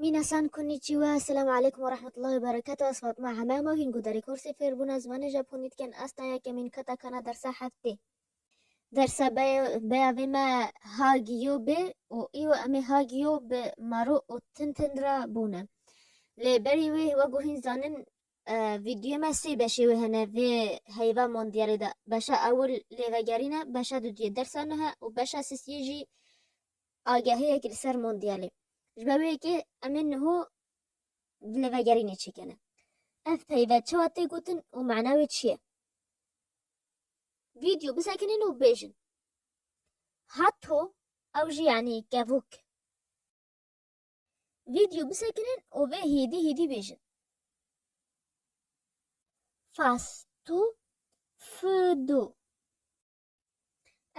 Mîna san konnichiwa, Selam aleykum ve rahmetullahi ve berekatu Ez Fatma Hemama hîn guderê kursê fêrbûna zimanê Japonî dikin Ez ta yekemîn qata kana dersa heftê Dersa beya vê me Hagio bi û îro em ê Hagio bi Maru û Tintin re bûne Lê berî wê wego hîn zanin vîdyoyê me sê beşê wê hene vê heyva mondiyalê de Beşa ewil lêvegerîn e, beşa duduyê dersa nuh e û beşa sisiyê jî agahiyek li ser mondyalê. Ji ber wê yekê em ê niho dilêvegerînê çêkene. Ev peyve çawa tê gotin û mana wê çi ye? Vîdyo bisekinîn û bêjin. Hatto ew jî yanî kevok. Vîdyo bisekinîn û vê hîdî hîdî bêjin. Fasto, fıdo.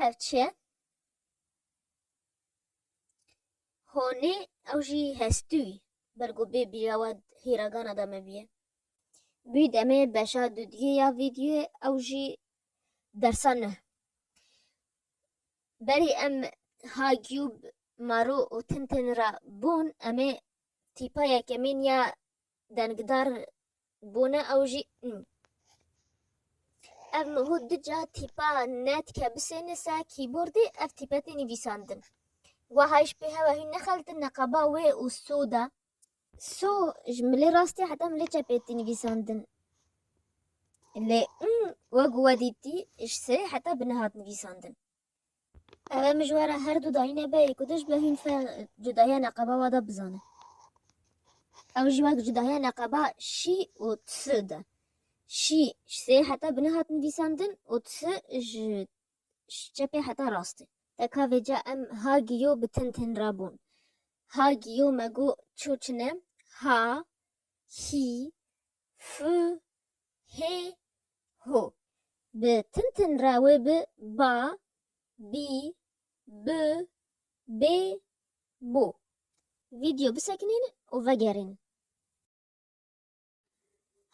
Ev çi ye? Honê ew jî hestûyî ber ku bê bîra we hîregana de me bîye. Bî demê beşa dudiyê ya vîdyoyê ew jî dersa nuh. Berî em ha Gyûb, Maro û Tintin re bûn em ê tîpa yekemîn ya Dengdar bûne ew jî in. Ev nuhû du ca tîpa netke bisêne ser kîbordê ev tîpe tê nivîsandin. Weha jî pê hewa hîn nexeltin neqaba wê û so de. So ji milê rastê heta milê çepê tê nivîsandin. Lê in wek ku we dîtî ji serê heta binê hat nivîsandin. Ev e mijwara her du dayînê be yê ku dij bi hîn fe cudahiya neqeba wa de bizane. Ew jî wek cudahiya neqeba şî û tisi de. Şî ji sê heta bi nihat nivîsandin û tisi ji çepê heta rastê. Teka vê ca em ha giyo bi tin tin re bûn. Ha giyo me got çû çi ne, ha, hî, fi, hê, Ho. Bi tin tin re wê bi, ba, bî, bi, bê, bo. Vîdyo bisekinîn û vegerîn.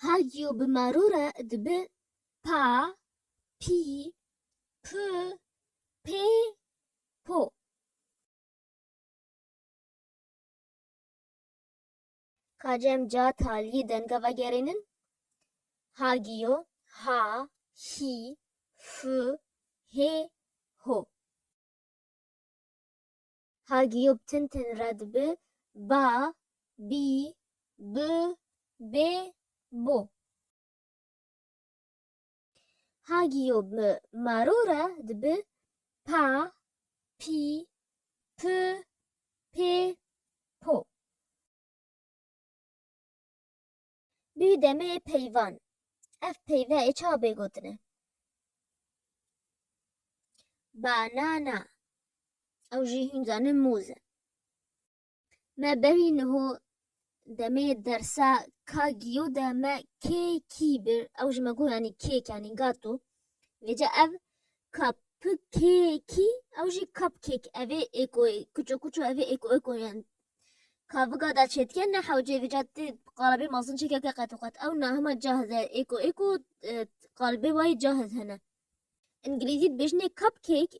Ha yo bi maro re dibi, pa, pî, pi, pê, po. Ka cem ca talî denga vegerînin, ha giyo, ha, hî, fû, hê, ho. Ha giyo bi tin tin re dibi, ba, bî, bi, bê, bo. Hagiyo bi maro re dibi pa, pî, pi, pê, po. Bî demê peyvan. Ev peyve ê çabê gotine. Banana. Ew jî hûn zanin mûz e. Me berî niho demê dersa ka giyo de me kê kî bir ew ji me got yanî kêk yanî gato. Vêca ev ka pi kê kî ew jî kap kêk evê êko kuço kuço evê êko êko yan ka viga da çêtike ne hewcê vêca tê qalibê mazin çekeke qet û qet ew nahima cahiz e êko êko qalibê wayî cahiz hene. Îngilîzî dibêjinê cup cake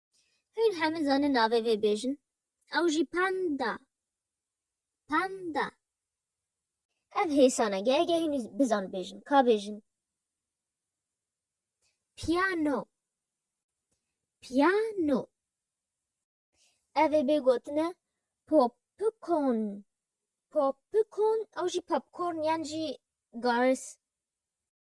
Hûn hemû zanin navê vê bêjin? Ew jî panda. Panda. Ev hêsan e, gehê gehê nû bizan bêjin. Ka bêjin. Piyano. Piyano. Ev ê bê gotin e popcorn. Popcorn ew jî popcorn yan jî garis.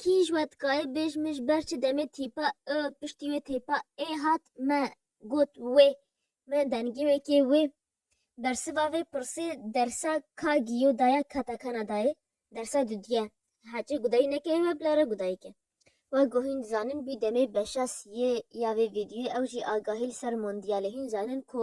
Kî ji we dikaye bêj min ji ber çi demê tîpa i piştî wê têpa ê hat me got wê me dengê wê kê wê bersiva vê pirsê dersa ka giyo daya kata kana dayê dersa dudiye hecê gudayî nekeye we bila re gudayî ke. Wa ku hîn dizanin bî demê beşa siyê ya vê vîdyoyê ew jî agahî li ser mondiyalê hîn zanin ku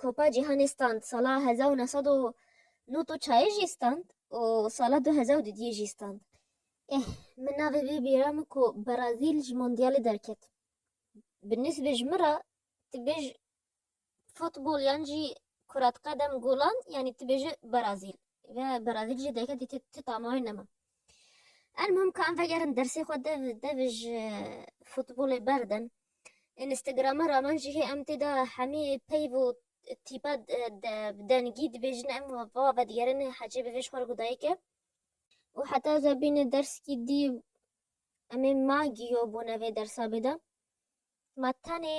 Kupa Cîhanê stand sala hezar û neh sed û nût û çayê jî stand û sala du hezar û du duyê jî stand. Eh, min navê vê bîra min ku Brazîl ji Mondîalê derket. Bi nisbê ji min re tu bêj futbol yan jî kurat qedem golan yanî tu bêje Brazîl. Ve Brazîl jî derket dîtê tu tama wê nema. Elmuhim ka em vegerin dersê xwe dev dev ji futbolê berdin. Instagrama raman jî hê em tê de hemî peyv û tîpa bi dengî dibêjin em va vedigerin hecê bivêj xwe ku dayik e û heta ez bîne derskî dî em ê ma giyo bûne vê dersa bê de ma tenê